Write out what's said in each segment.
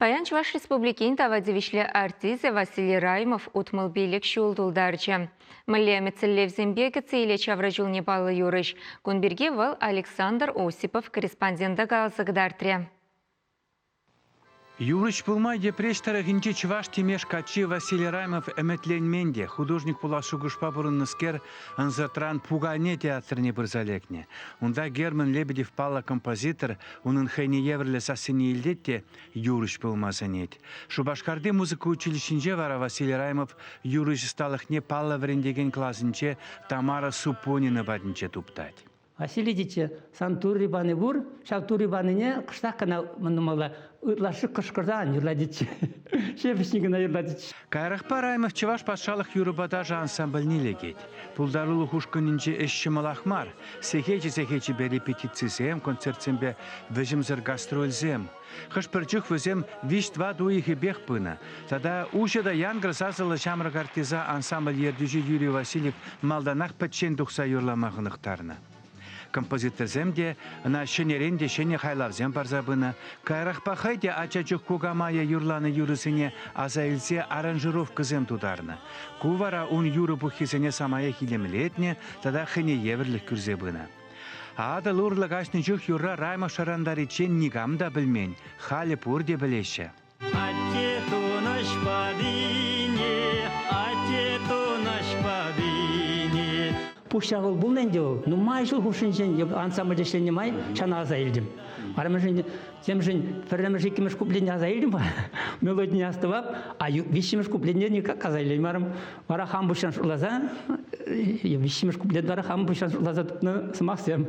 Паян Чӑваш Республикин тава тивӗҫлӗ артисчӗ Василий Раймов утмӑл пилӗк ҫул тултарчӗ. Мӗнле ӗмӗтсӗрлевсемпе кӗтсе илет ҫавра чулне паллӑ юрӑҫ. Кун пирки вӑл Александр Осипов корреспондента каласа кӑтартрӗ. Юрӑҫ пулма Йӗпреҫ тӑрӑхӗнчи чӑваш Тимеш каччи Василий Раймов ӗмӗтленмен те. Художник пулас шухӑшпа пурӑннӑскер ӑнсӑртран пукане театрне пырса лекнӗ. Унта Герман Лебедев паллӑ композитор Унӑн хӑйне евӗрлӗ сассине илтет те юрӑҫ пулма сӗнет. Шупашкарти музыка училищинче вара Василий Раймов юрӑҫ ӑсталӑхне паллӑ вӗрентекен класӗнче Тамара Супонина патӗнче туптать. Василий тичче, сан Турри пани пур, ҫав Турри панине кӑштах кӑна нумала ытлашши кӑшкӑрса ан юрлатичче. Ҫепӗҫҫӗн кӑна юрлатичче. Каярахпа Раймов Чӑваш патшалӑх юрӑпа ташӑ ансамбльне лекет. Пултарулӑх ушкӑнӗнче ӗҫ ҫӑмӑлах мар. Сехечӗ-сехечӗпе репетицисем, концертсемпе вӗҫӗмсӗр гастрольсем. Хӑш-пӗр чух вӗсем виҫ-тӑват уйӑхӗпех пынӑ. Тата уҫӑ та янкӑр сасӑллӑ ҫамрӑк артиса ансамбль ертӳҫи Юрий Васильев малтанах пӗччен тухса юрлама хӑнӑхтарнӑ. Композиторсем те, ӑна ҫӗнӗрен те ҫӗнӗ хайлавсем парса пынӑ. Каярахпа хӑй те ача чух кукамайӗ юрланӑ юрӑсене аса илсе аранжировкӑсем тутарнӑ. Ку вара ун юрӑ пуххисене самаях илемлетнӗ тата хӑйне евӗрлӗх кӳрсе пынӑ. Атӑл урлӑ каҫнӑ чух юрра Раймond шӑрантариччен никам та пӗлмен, халӗ пурте пӗлеҫҫӗ. Атте тунӑҫ патине, атте тунӑҫ патине. Пуҫ ҫавӑл пулнӑ ӗнтӗ вӑл. Нумай ҫул хушшинчен ансамбль ӗҫленӗ май ҫана аса илтӗм. Арӑмӗшӗн, темшӗн пӗрремӗш, иккӗмӗш куплетне аса илтӗм мелодине астӑвап, а виҫҫӗмӗш куплетне никак аса илеймарӑм. Вара хам пуҫран шутласа, виҫҫӗмӗш куплет вара хам пуҫран шутласа тупнӑ сӑмахсем.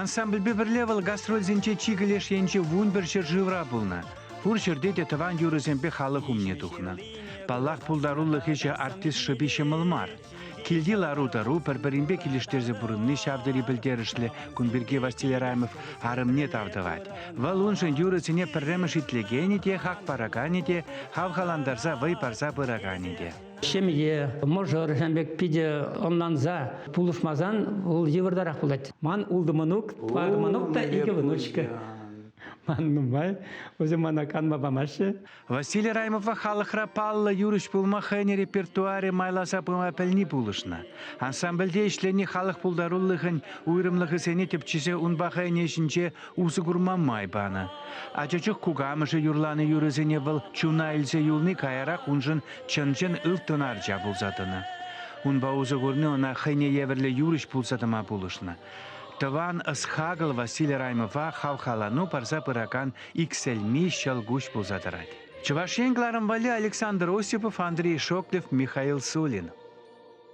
Ансамбльпе пӗрле вӑл гастрольсенче чикӗ леш енчи вун пӗр ҫӗршывра пулнӑ. Пур ҫӗрте те тӑван юрӑсемпе халӑх умне тухнӑ. Паллах, пултарулӑх ӗҫӗ артист шӑпи ҫӑмӑл мар. Килти лару-тӑру пӗр-пӗринпе килӗштерсе пурӑнни ҫав тери пӗлтерӗшлӗ. Кун пирки Василий Рамев арӑмне тав тӑвать. Вӑл уншӑн юрӑсене пӗрремӗш итлекенӗ те, хак параканӗ те, хавхалантарса вӑй парса пыраканӗ те. Ҫемье, мӑшӑр ҫан пек питӗ ӑнланса пулӑшмасан вӑл йывӑртарах пулать. Ман ултӑ мӑнук, парӑ мӑнук та икӗ внучка. Ман нумай, вӗсем мана канма памаҫҫӗ. Василий Раймовпа халӑхра паллӑ юрӑҫ пулма хӑйӗн репертуарӗ майласа пыма пӗлни пулӑшнӑ. Ансамбльте ӗҫлени халӑх пултарулӑхӗн уйрӑмлӑхӗсене тӗпчесе унпа хӑйӗн ӗҫӗнче усӑ курма май панӑ. Ача чух кукамӑшӗ юрланӑ юрӑсене вӑл чуна илсе юлни каярах уншӑн чӑн-чӑн ылтӑн арча пулса тӑнӑ. Унпа усӑ курни ӑна хӑйне евӗрлӗ юрӑҫ пулса тӑма пулӑшнӑ. Тӑван ӑс-хакӑл Василий Раймова хавхалану парса пыракан иксӗлми ҫӑлкуҫ пулса тӑрать. Чӑваш Ен кӑларӑм валли Александр Осипов, Андрей Шоклев, Михаил Сулин.